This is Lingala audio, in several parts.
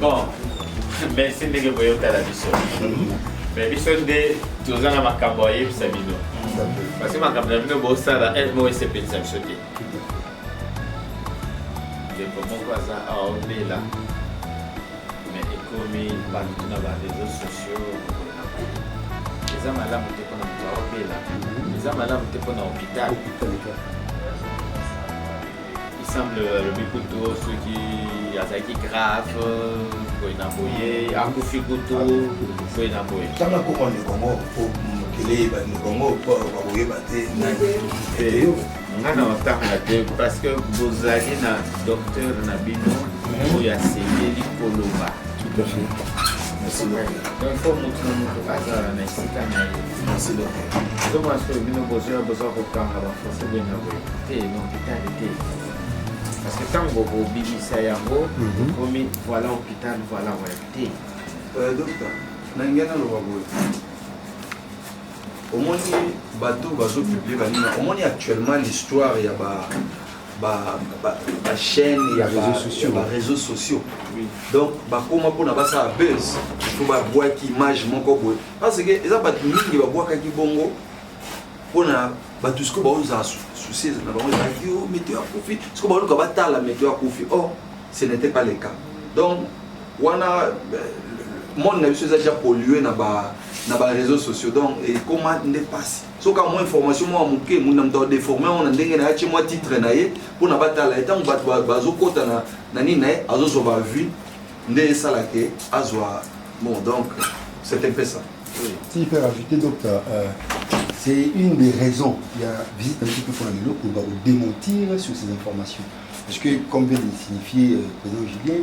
Bon, merci ndenge boyotala biso me biso nde toza na makambo ayebisa bino parce que makambo na bino bosala eve moko esepelisa biso te ndeko moko aza awa obela me ekomi bato na ba réseau sociaux eza malamu te mpona moto aobela eza malamu te mpona hôpital isemble alobi kutu soki azalaki grave boye na boye akufi kutu boye na boye tanga kokwa ndeko yango mokili eyeba ndeko yango bakoyeba te nani nga na otanga te parce que bozali na docteur na bino mhm. oyo asengeli koloba donc fo motu na motu azala na esika na ye ezomona soki bino bozoya boza kokanga bafonse boye na boye te nokitali te parce que ntango bobimisa yango okomi mhm. voilà hôpital voilà voilà te euh, docteur na ngai naloba boye omoni bato bazo publie baninga omoni actuellement l'histoire ya ba bachaîne ya bareseau sociaux donc bakoma mpona basala buzz to babwaki image moko boye parce que eza bato mingi babwakaki bongo mpona bato sikoyo baozala souci na bango ezalaki yo oh, meto ya kufi sikoyo baluka batala meto ya kufi or oh, ce n'était pas le cas donc wana monde na biso eza déjà pollue na ba na ba réseaux sociaux donc ekoma nde mpasi soki amwa information mwa moke mutu na moto adeforme yango na ndenge na ye atye mwa titre na ye mpo na batala ye ntango bato bazokɔta na, na nini na ye azozwa bavue nde esala ke azwa bon donc c'est un peu ça si faire ajouter donc euh, euh, c'est une des raisons il y a visite un petit peu pour la lelo pour démentir sur ces informations parce que comme vient de signifier euh, président Julien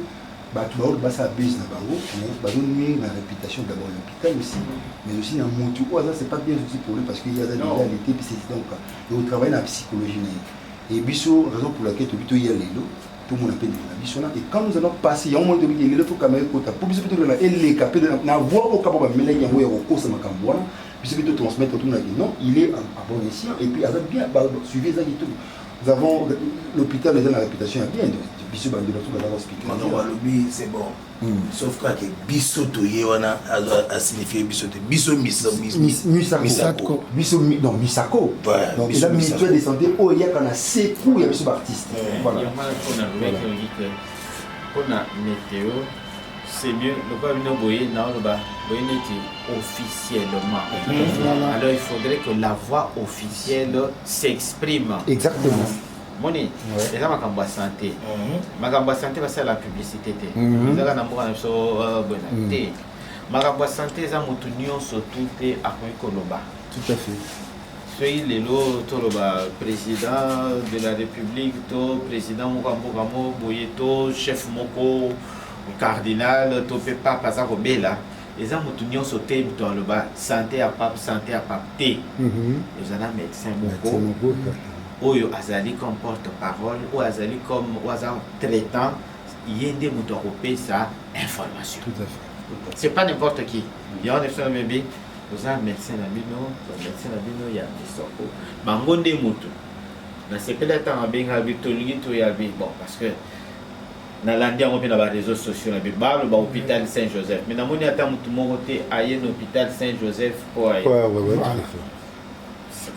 batu baoyo basala buzz na bango mais bazo nuire na reputation d'abord ya hôpital aussi mais aussi na mutu oyo aza c'est pas bien aussi pour lui parce que ye aza déjà alite puis c'est donc donc travailler na psychologie na ye et biso raison pour laquelle tobi toya lelo tomona mpe ndeko na biso na et quand nous allons passer yango moni tobi lelo fo kamera ekota mpo biso mpe tolela eleka mpe na voix oyo kapa bamelaki yango ya kokosa makambo wana biso mpe totransmettre tomona ke non il est en bon escient et puis aza bien suivi eza kitoko Nous avons l'hôpital eza na réputation ya bien biso bandi bato baza hospitalier balobi c'est bon hmm. sauf kaka ke biso toye wana asignifie biso te biso misako biso donc misako donc eza ministère de santé oyo eyaka na secours ya biso baartiste mpona météo c'est mieux lokola bino boye naoloba boye neti officiellement hmm. alors il faudrait que la voix officielle s'exprime exactement moni eza makambo ya santé hmm. makambo ya santé basala la publicité te hmm. ezaka na mboka na biso euh, boye te makambo ya santé eza motu nyonso tu te akoki koloba tout à fait Soki lelo toloba president de la republique to president moko ya mboka moko boye to chef moko cardinal to mpe pape aza kobela eza motu nyonso te moto aloba sante ya pape sante ya pape te eza na médecin moko oyo azali comme porte parole oyo azali comme oyo aza traitant ye nde moto akopesa information c'est pas n'importe qui yango na biso na mebi Oza medecin na bino ba medecin na bino ya Kisoko bango nde mutu na sepeli atanga abenga bi tolingi toya bi bon parce que nalandi yango mpe na bareseau sociaux na biso baloba hôpital saint joseph me namoni ata motu moko te aye na hôpital saint joseph mpo aye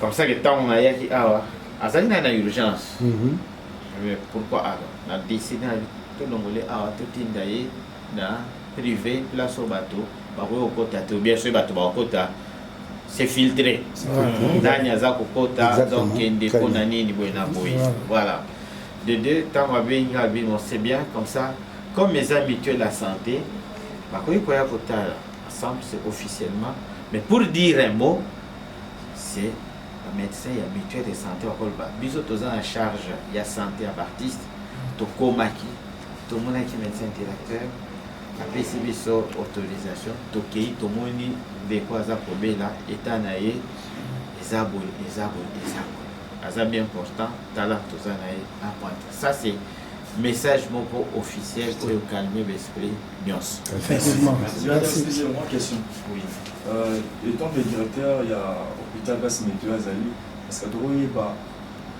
comme ça ke ntango nayaki awa azali naye na urgence mhm. pourquoi alors na décide na tolongole awa totinda ye na prive place oyo bato bakoki kokota te obien soki bato bakokota se filtre nani aza kokota aza kokende mpo na nini boye na boye voilà de deux ntango abengi nga abi non c'est bien comme ça comme eza mutuel ya santé bakoki koya kotala ensemble c'est officiellement mais pour dire un mot c'est bamédecin ya mutuel de santé bakoloba biso toza na charge ya santé ya baartiste tokomaki tomonaki medecin directeur apesi biso autorisation tokei tomoni ndeko aza kobela eta na ye eza boye eza boye eza boye aza bien important tala toza na ye apanta ça c'est message moko officiel oyo calme baesprit nyonso euh, étant le directeur ya hôpital basi meto azali parce que tokoyeba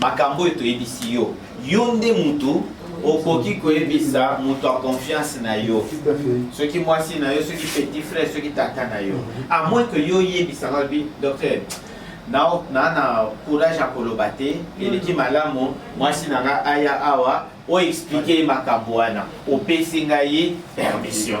Makambo oyo toyebisi yo, yo nde mutu okoki koyebisa moto ya confiance na yo soki mwasi na yo soki petit frère soki tata na yo à moins que yo oyebisa nga bi docteur na na courage ya koloba te eleki malamu mwasi na nga aya awa oexplike ye makambo wana opesi ngai permission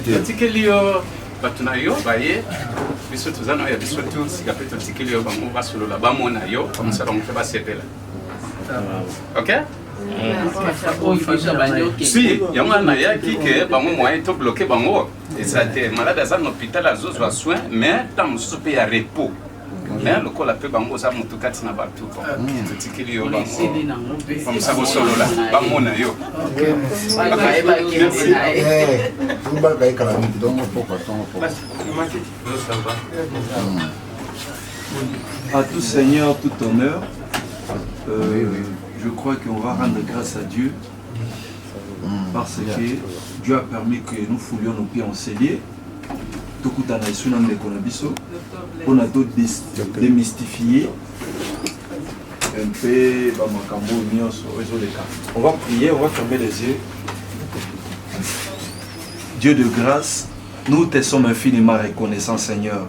totikeli yo bato na yo baye biso toza na ya biso tu sika mpe totikeli yo bango basolola bamona yo bamosa bango mpe basepela ok si yango wana nayaki ke bango moyen to bloke bango eza te malade aza na hôpital azozwa soin mais ntango mosusu mpe ya repos mais lokola mpe bango oza motu kati na bato totikeli yo bangokomisa kosolola bamona yo À tout Seigneur, tout honneur, euh, je crois qu'on va rendre grâce à Dieu parce que Dieu a permis que nous foulions nos pieds en cellier tokutana esu na ndeko na biso mpona to démystifier un peu bamakambo oyo nyonso oyo ezoleka on va prier on va fermer les yeux Dieu de grâce nous te sommes infiniment reconnaissant Seigneur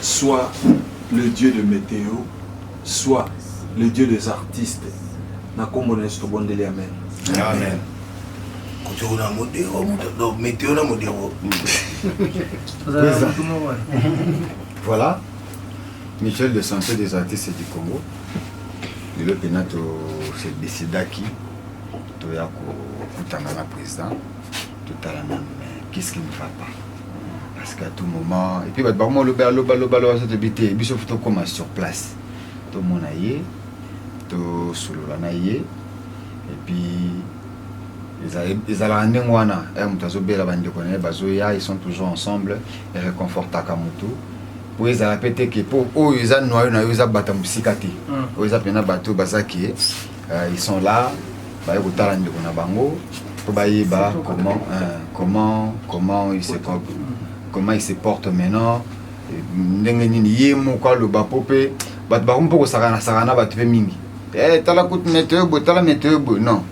soit le dieu de meteo soit le dieu des artistes na kombo na yesu tobondeli amen amen kotoyo na modero donc meteo na modero voilà michel de santé des artistes du congo lelo mpena tose decidaki toya kokutana na président totalana mais qu'est ce qui ne va pas parce qu'à tout moment et puis bato bakoma oloba aloba loba aloba so toyebi te biso fo tokóma sur place tomona ye tosolola na ye et puis ezalaka ndenge wana eh, moto azobela bandeko na ye bazoya ils sont toujours ensemble ereconfortaka motu po ezala pe te ke po oyo eza noyo na yo eza bata mosika te mm. oyo eza mpena bato baza ke Euh, ils sont là, baye kotala ndeko na bango mpo bayeba comment, euh, comment, comment il se porte, comment il se porte maintenant euh, ndenge nini ye moko aloba mpo mpe bato bakomi mpo kosakana sakana bato mpe mingi eh, tala kutu meteo boye tala meteo boye non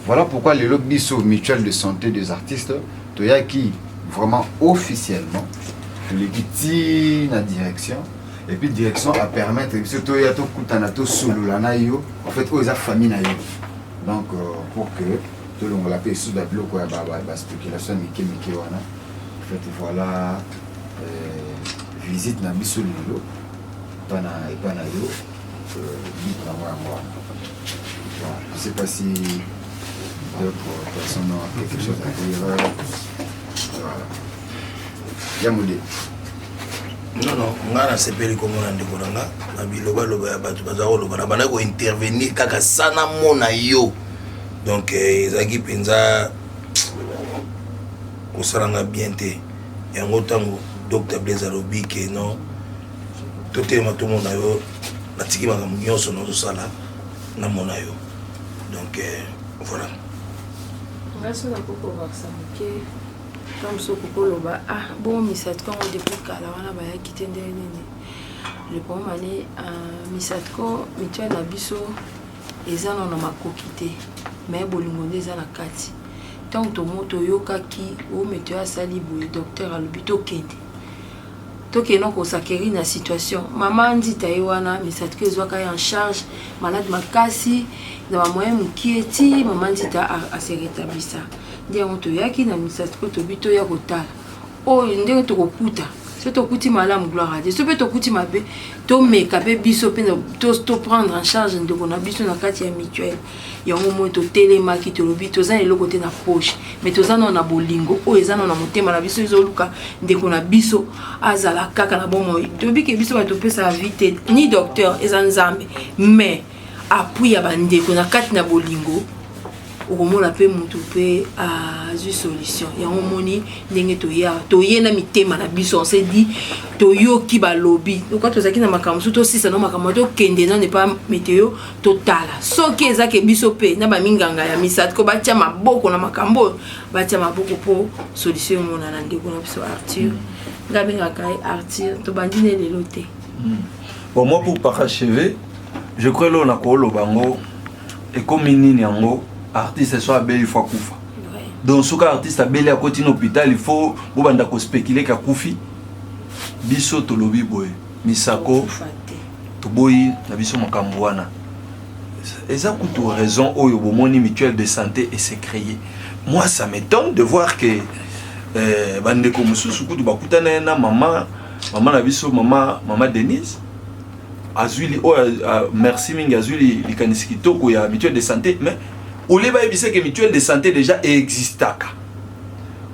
voilà pourquoi lelo biso mutuelle de santé des artistes toyaki vraiment officiellement toleki ti na direction et puis direction a permettre biso toya tokutana tosolola na yo en fait oyo eza famille na yo donc euh, pour que tolongola mpe esusu babiloko ya baspéculation ya mike mike wana en fait voilà euh, visite na biso lelo epa na epa na yo bitu euh, nango yango wana je sais pas si d'autres personnes ont quelque chose à dire voilà jambo de nono ngai nasepeli komona ndeko na nga na bilobaloba ya bato baza koloba na bandaki kointervenir kaka sa namona yo donc eh, ezalaki mpenza kosala nga bien te yango ntango dr blaise alobi ke non totelema tomona yo natiki makambo nyonso nazosala namona yo donc eh, voilà ngai soki nakoki kobakisa moke to mosusu okoki koloba ah bomisatko yango depuis kala wana bayaki te ndenge nini le problème ani euh, misatko mituele na biso eza na na makoki te me bolingo nde eza na kati ntango tomo toyokaki o mituele asali boye docteur alobi tokende Toke no ko s'acquerir na situation. Mama Andita ye wana misato ke ezwaka ye en charge, malade makasi na ba moyen mukie ti mama Andita a se retablissa. Nde yango toyaki na misato ko tobi toya kotala oyo ndenge tokokuta soki tokuti malamu gloire à Dieu soki mpe tokuti mabe tomeka mpe biso mpe to prendre en charge ndeko na biso na kati ya mutuelle yango moi totelemaki tolobi toza na eloko te na poche mais toza nao na bolingo oyo eza nao na motema na biso ezoluka ndeko na biso azala kaka na bomoi toyebi ke biso bato topesaka vi te ni docteur eza nzambe mais apui ya bandeko na kati na bolingo okomona mpe motu mpe azwi solution yango omoni ndenge toya toye na mitema na biso on se dit toyoki balobi loka tozalaki na makambo mosusu tosisa no makambo tokende nano epa meteo totala soki eza ke biso mpe na baminganga ya misatko batya maboko na makambo oyo batya maboko mpo solution emonana ndeko na biso arthur nga abengaka ye arthur tobandi ne lelo te hmm. bon moi pour paracheve je crois lelo na kooloba yango ekomi nini yango artiste so abeli fo akufa donc soki artiste abeli akoti na hôpital il faut bobanda kospecule ke akufi biso tolobi boye Misako toboyi na biso makambo wana eza kutu raison oyo bomoni mutuelle de santé et se créer moi ça m'étonne de voir que euh, bandeko mosusu kutu bakutana na mama mama na biso mama mama denise azwi li oyo oh, merci mingi azwi li likanisi kitoko ya mutuelle de santé mais olie bayebisa ke mutuelle de santé déjà existaka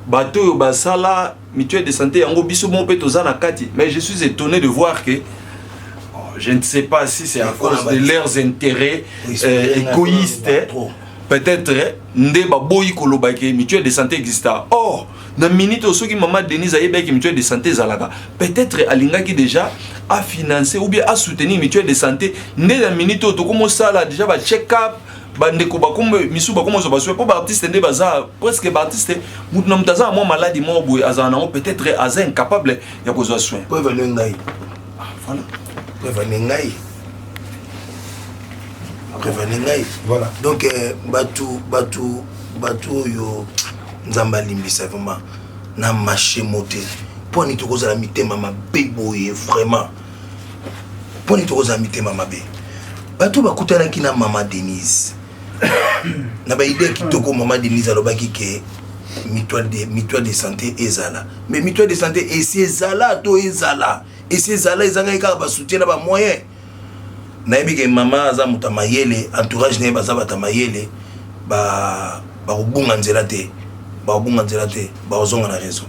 bato oyo basala Mutuelle de sante yango biso moko pe toza na kati mais je suis etonne de voir que je ne sais pas si c'est à cause de leurs intérêts euh, égoïstes peut-être nde baboyi koloba ke mutuelle de santé exista or na minute oyo soki mama denise ayebaki mutuelle de santé ezalaka peut-être alingaki déjà afinance ou bien asoutenir mutuelle de santé nde na minute oyo tokomosala déjà bacheck up bandeko bakoma misusu bakoma ozwa bazwi mpo baartiste nde baza presque baartiste motu na moto aza na mwa maladi moko boye azala nango peut-être aza incapable ya kozwa soin po evane ngai ah, voilà po evane ngai evane ngai voilà donc euh, bato bato bato oyo nzambe alimbisa vraiment na mashe mote mpo ani tokozala mitema mabe boye vraiment mpo nini tokozala mitema mabe bato bakutanaki na mama denise na baide kitoko mama denise alobaki ke mutuelle de, mutuelle de santé ezala mais mutuelle de santé esi ezala to ezala esi ezala ezangaki kaka basoutien na bamoyen nayebi ke mama aza moto ya mayele entourage na ye baza bato ya mayele bakobunga nzela te bakobunga nzela te bakozonga na raison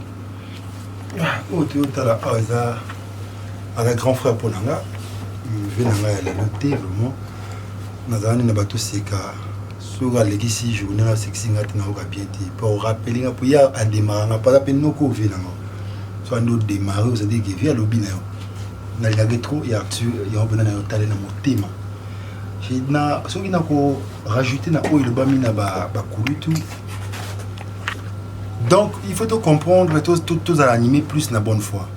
ah, oyo toyotala awa eza aza grand frère mpo na nga vie na ngai ya lelo te vraiment nazalani na bato seka soki alekisi journée na sekisi ngai te nayoka bien te mpo orapeli nga mpo ye ademara nga mpo aza mpe noko vie na nga so andi odemare ozali ke vie alobi na yo nalingaki trop ya artur yango mpena na yo tale na motema na soki na ko rajouter na oyo elobami na bakulutu donc il faut to comprendre tozala anime plus na bonne foi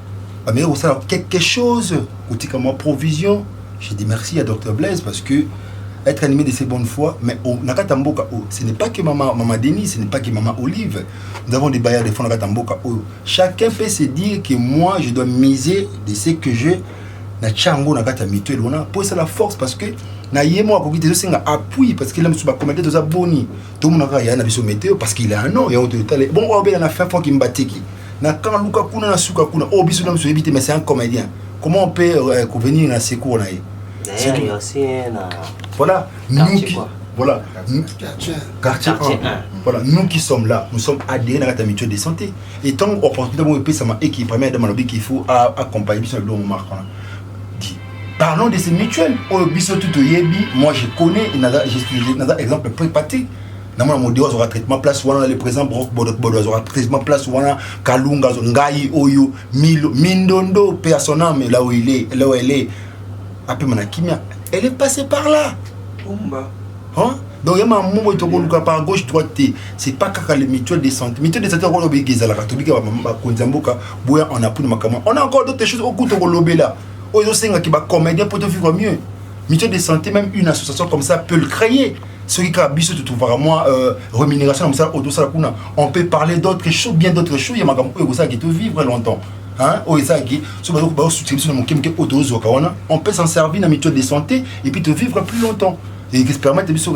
bameki kosala quelque chose kotika mwa provision je dis merci à docteur blaise parce que être animé de ces bonnes fois mais au, na kati ya mboka oyo ce n'est pas que mama, mama denis ce n'est pas que mama olive nous avons des bailleurs de fonds na kati ya mboka oyo chacun peut se dire que moi je dois miser de ce que je na tia yango na kati ya mitu elona mpo esala force parce que na ye moko akoki te ezosenga appui parce que la mosusu bakomete toza boni tomonaka yaya na biso meteo parce qu'il a un nom yango toyotale bon oyo obela na fin fo kimbatiki na kama luka kuna na suka kuna oyo oh, biso na biso yebi te mais c'est un comédien comment on peut euh, venir na secours na ye voilà nous qui voilà quartier 1 voilà nous qui sommes là nous sommes adhérés na kata mutuelle de santé et tant opportunité mo epesama et qui permet dama lobi qu'il faut accompagner biso na biloko marque wana dit parlons de ces mutuelles oyo oh, biso tout toyebi moi je connais naza exemple prépaté na mwana modero azwaka traitement place wana le président brok bodobodo azwaka traitement place wana kalunga ngai oyo milo mindondo mpe ya son ame là où il est là où elle est apema na kimia elle est passée par là Umba. Hein? donc ya mamu boye tokoluka par gauche droite te c'est pas kaka le mutuel de santé mutuel de santé yango obiki ezalaka tobiki bakonzi ya mboka boya on apuni makambo on a encore d'autres choses oku tokolobela oyo ezosengaki bacomédien mpo tofikwa mieux mutuel de santé même une association comme ça peut le créer soki kaka biso totrouvaka mwa euh, rémunération na mosala oyo tosala kuna on peut parler d'autres choses bien d'autres choses ya makambo oyo ekosalaki tovivre longtemps oyo ezalaki soki bazosutika biso na moke moke oyo tozwaka wana on peut s'en servir na mutuelle de santé et puis tovivre plus longtemps epermettre biso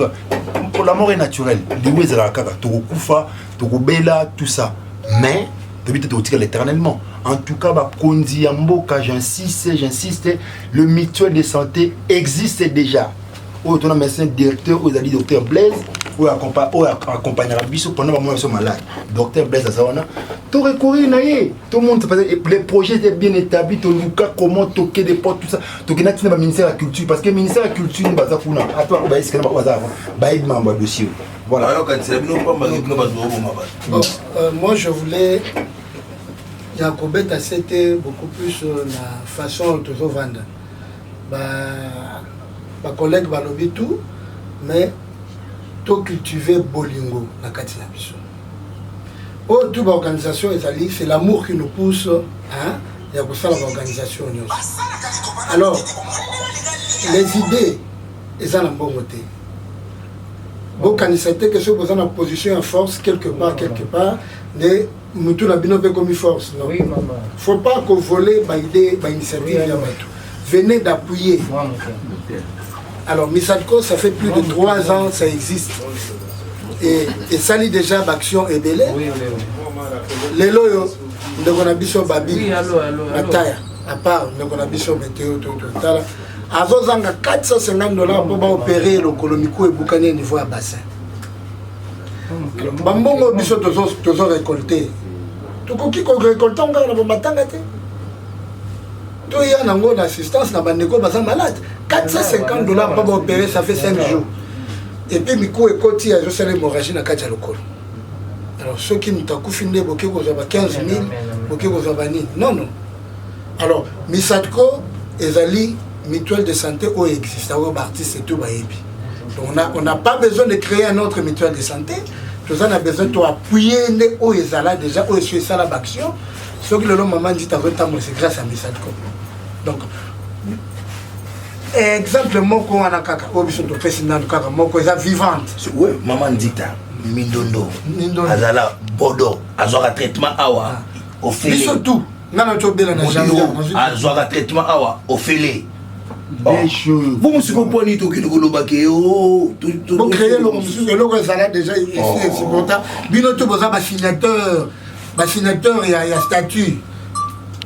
pour la mort est naturelle liwa ezalaka kaka tokokufa tokobela tout ça mais toyebi te tokotikala éternellement en tout cas bakonzi ya mboka j'insiste j'insiste le mutuelle de santé existe déjà oyo tona médecin directeur oyo ezali docteur blaise oyo accompagnaka biso pendant bamona biso malade docteur blaise aza wana to recourir na ye tomonisa parce que le projet était bien établi toluka comment toke des portes tout ça tokenda ntina baministère ya culture parce que ministère ya culture nde baza kuna ata bako bayesikana bako baza avant bayebi mambo ya dossier voilà alors quand c'est bino pamba bino bazo boma ba bon euh, moi je voulais ya kobeta sete beaucoup plus euh, na façon tozovanda ba ba collègues balobi tout mais to cultiver bolingo na kati na biso oyo oh, tout baorganisation ezali c'est l'amour qui nous pousse hein, ya kosala baorganisation nyonso alors les idées eza na mbongo te bokanisa te ke soki boza na position ya force quelque part quelque part nde mutu na bino mpe ekomi force non oui, maman. faut pas ko voler ba idée ba initiative oui, ya bato venez d'appuyer alors misadco ça fait plus de trois ans ça existe et esali déjà baaction ebele lelo oyo ndeko na biso babi mataya à part ndeko na biso meteo totala azozanga 450 dollars mpo baopere lokolo miku ebukani ya niveau ya bassin bambongo biso tozo récolte tokoki korécolte yango kaka na bamatanga te toya nango na assistance na bandeko baza malade 450 dollars mpo baopere ça fait 5 jours epuis miku ekoti ezosala hémorragie na kati ya lokolo alors soki moto akufi nde boke kozwa ba 15 000 boke kozwa banini non non alors misatko ezali mutuelle de santé oyo existe oyo baartiste tout bayebi donc on a, on a pas besoin de créer un autre mutuelle de santé toza na besoin to appuye nde oyo ezala déjà oyo esi esala baaction soki lelo mama nzita azotambolisa grâce ya misatko donc exemple moko wana kaka oyo biso topesi nano kaka moko eza vivante oui, mama nzita mindondo azala bodo azwaka traitement awa ah. ofele biso tout nga na tobela na janvier azwaka traitement awa ofele bo mosiko mpo nini tokende koloba ke bocreye eloko mosusu eloko ezala déjà esi oh. esupporta bino to boza basignateur basignateur ya statut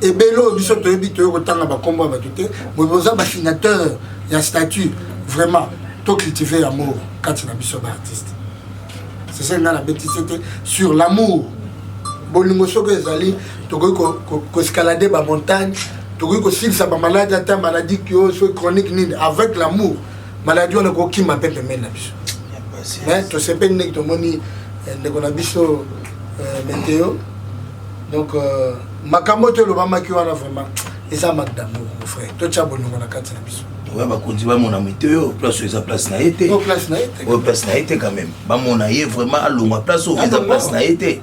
ebele oyo biso toyebi toye kotanga bakombo ya bato te boza basignateur ya statut vraiment tocultive yango kati na biso baartiste c'est ça nga na beti c'était sur l'amour bolingo soki ezali tokoki koescalade ko, ko bamontagne tokoki kosilisa bamaladi ata maladi kio soki chronique nini avec l'amour maladi wana kokima mpe pembeni na biso mais tosepeli ndenge tomoni eh, ndeko na biso eh, meteo donc euh, makambo oyo tolobamaki wana vraiment eza makambo mon frère totya bolingo na kati na biso oya bakonzi bamona mito yo place oyo eza place na ye te oyo place na ye te quand même bamona ye vraiment alongwa place oyo eza place na ye te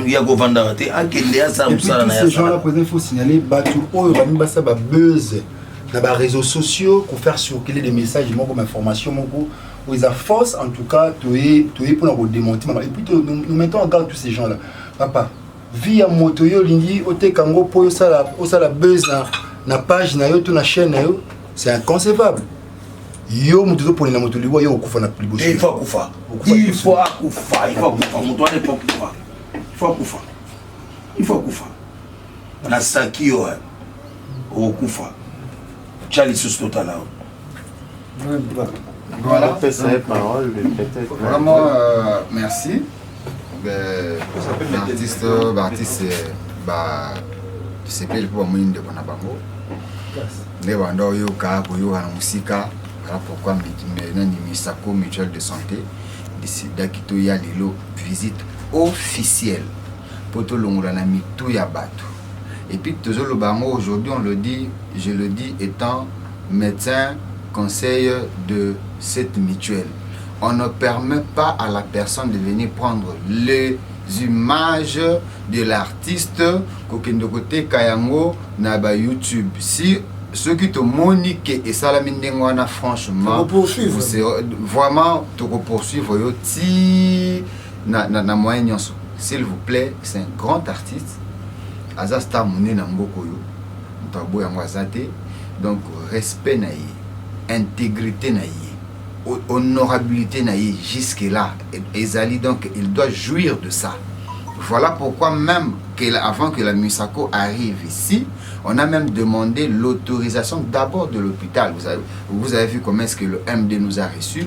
ya kovandaka te akende asala mosala na yagenre président faut signaler bato oyo balingi basala babuse na baréseaux sociaux kofaire circuler des messages moko mainformation moko oyo eza force en tout cas toye toye mpona kodemonte mama epuis nous mettons en garde tous ces gens là papa vie ya moto yo olingi oteka yango mpo osala osala buzz na, na page na yo to na chaîne na yo c'est inconcevable yo moto ozoponela moto liwa yo okufa na liboso il faut akufa il faut akufa il faut akufa moto wana il faut akufa il faut akufa il faut akufa na saki yo okokufa tya lisusu totala yo Voilà. Pesa ye parole, mais peut-être. Vraiment, euh, merci. Ben, artiste, artiste, ba, sepeli mpo bamoni ndeko na bango nde banda oyoka koyoka na mosika voilà pourquoi nani misako mutuelle de santé decidaki toya lelo visite officielle mpo tolongola na mitu ya bato et puis tozo loba yango aujourd'hui on le dit je le dis etant medecin conseil de cette mutuelle on ne permet pas à la personne de venir prendre les images de l'artiste kokende koteka yango na ba youtube si soki tomoni ke esalami ndenge wana franchement vraiment tokopoursuivre yo ti na, na, na moyen nyonso s'il vous plaît c'est un grand artiste aza star monene na mboka oyo moto aboya yango aza te donc respect na ye intégrité na ye honorabilité na ye jusque là ezali donc il doit jouir de ça voilà pourquoi même que la, avant que la Musako arrive ici on a même demandé l'autorisation d'abord de l'hôpital vous avez, vous avez vu comment est-ce que le MD nous a reçus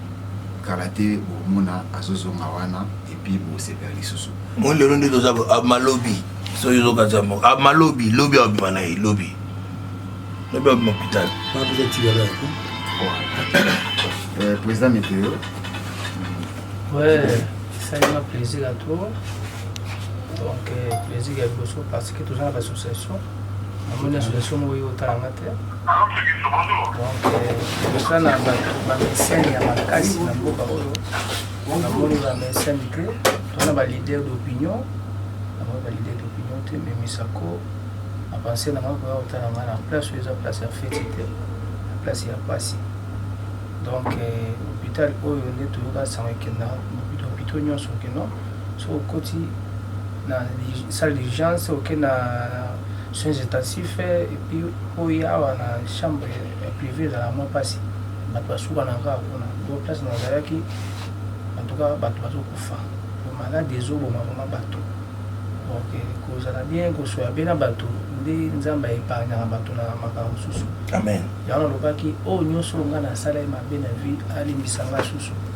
kala te bomona azo zonga wana et puis bo sepela lisusu. Moi lelo nde toza bo ah, malobi soki ozo kaza mo ah, malobi lobi au bima na ye lobi lobi au bima hôpital. Pas besoin de tirer là. Euh, président météo. Ouais, ça m'a plaisir à toi. Donc, euh, plaisir à Bosso parce que tu as l'association. namoni association moko yo otala nga te oza na bamesene ya makasi na mboka oyo namoni bamesene te tona balider d'opinion namoni balider d'opinion te memisako apense na ngai koya kotala ngai na place oyo eza place ya feti te na place ya pasi donc euh, hôpital oyo nde toyoka sango ekenda hôpitaux nyonso okenda soki okoti na salle d'urgence oke na soins intensifs et puis oya awa na chambre ya prive ezalaka mwa mpasi bato basukanaka kaka kuna donc place na ozalaki en tout cas bato bazokufa maladi ezoboma vrema bato donc kozala bien kosoya bena bato nde nzambe aepargnaka bato na makambo mosusu amen yango nalobaki oyo nyonso oyo ngai nasala ye mabe na vie alimbisa ngai susu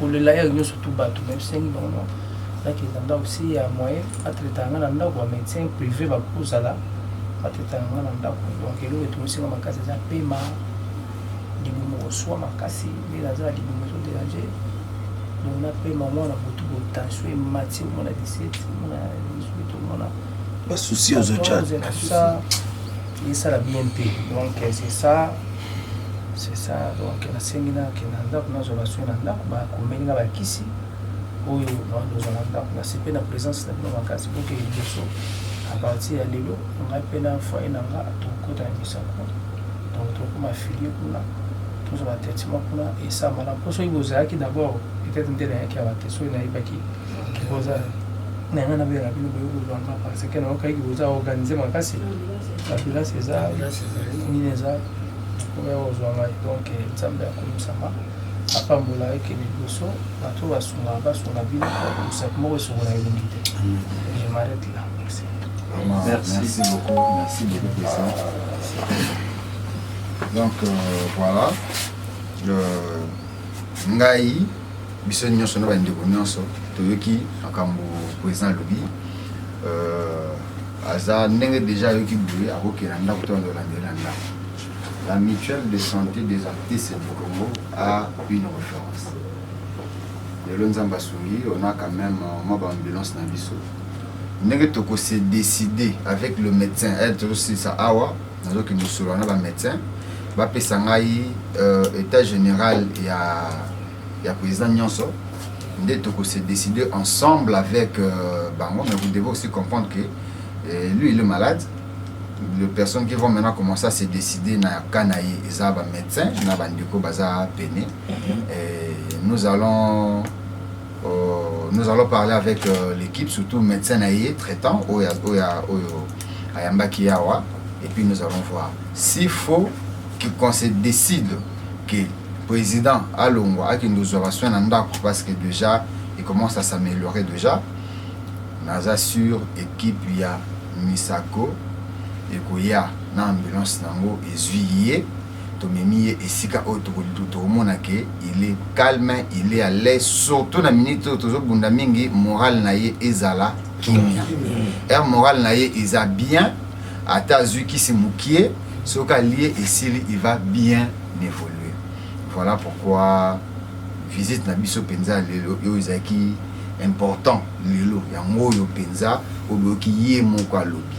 kolela ya nyonso tu bato na bisengi bango na nakenda ndako si ya moyen atretaka ngai na ndako ba médecin privé bakozala batretaka ngai na ndako donc eloko etungisinga makasi eza pema libumu koswa makasi nde naza na libumu ezo dérange donc napema mwana butu bo tension emati omona 17 omona 18 omona basusi ozotya esala bien te donc c'est ça c'est ça donc nasengi na ke na ndako nazwa basoin na ndako bakomeli nga bakisi oyo naozwa na ndako nasepe na présence na bino makasi boke liboso à partir ya lelo ngai mpe na foye na nga tokokota na misako donc tokoma filie kuna tozwa batraitement kuna esambala mpo soki bozalaki d'abord peut-être nde nayaki awa te soki nayebaki boza na yanga na bela bino boye kozwa nga parce que nayoka eki boza organise makasi babilasi eza nini eza oya kozwa ngai donc nzambe akomisama apambola eke liboso bato basunga basunga bino kosapi moko esongo na elongi te je m'arrête là merci merci, merci beaucoup merci beaucoup président donc euh, voilà euh, ngai biso nyonso na bandeko nyonso toyoki makambo president alobi euh, aza ndenge deja ayoki boye akokela ndako to azolandela na ndako la mutuelle de santé des artistes du congo a une référence lelo nzambe asungi on a quand même euh, mwa baambulance na biso ndenge tokose décider avec le médecin aide eh, tozosilisa awa nazokende kosolola na bamedecin bapesa ngai uh, état général ya, ya président nyonso nde tokose décide ensemble avec uh, bango mais vous devez aussi comprendre que uh, lui il est malade les personnes qui vont maintenant commencer à se décider na cas na ye eza bamédecin na bandeko baza pene nous allons euh, nous allons parler avec euh, l'équipe surtout médecin na ye traitant oyo oyo ayambaki yawa et puis nous allons voir s'il faut qu'on se décide que président alongwa akende kozwa basoin na ndako parce que déjà il commence à s'améliorer déjà naza sur équipe ya misako ekoya na ambulance nango ezwi ye tomemi ye esika oyo tokomona ke il est calme il est à l'aise surtout na minute oyo tozobunda mingi morale na ye ezala kimia heure morale na ye eza bien ata azwi kisi mokie soki alie esili il va bien évoluer voilà pourquoi visite na biso mpenza lelo oyo ezalaki important lelo yango oyo mpenza oboyoki ye moko alobi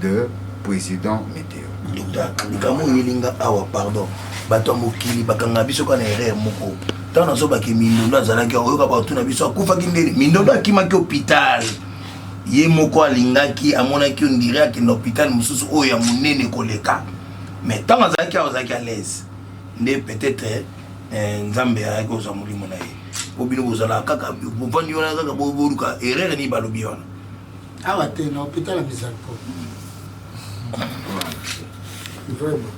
de president meteo. Docteur likambo oyeli nga awa pardon bato ya mokili bakanga biso kaka na erreur moko ntango nazobake mindondo azalaki oyoka bato na biso akufaki ndeni mindondo akimaki hopital ye moko alingaki amonaki ondire akenda hopital mosusu oyo ya monene koleka mais ntango azalaki awa azalaki alaise nde peut-être eh, nzambe ayaki kozwa molimo na ye po bino bozalaka kaka bovandi wana kaka boluka erreur nini balobi wana Awa te na hopital ya Mizalpo. Vraiment.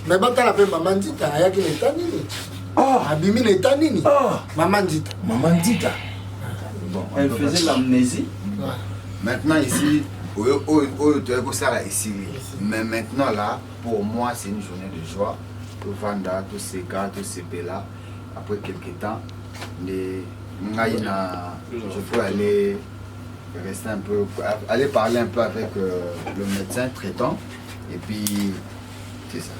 Mais batala pe mama Nzita ayaki na etat nini? Ah, abimi na etat nini? Ah, mama Nzita. Mama Nzita. Bon, elle faisait l'amnésie. Ouais. Maintenant ici oyo oyo oyo toyaki kosala esili mais maintenant là pour moi c'est une journée de joie tovanda toseka tosepela Après quelque temps, les ngai na je peux aller rester un peu, aller parler un peu avec euh, le médecin traitant et puis c'est ça.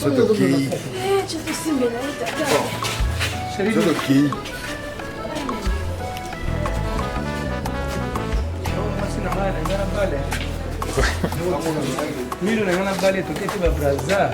soki okei soki okei mino na nga na bale toketi babraza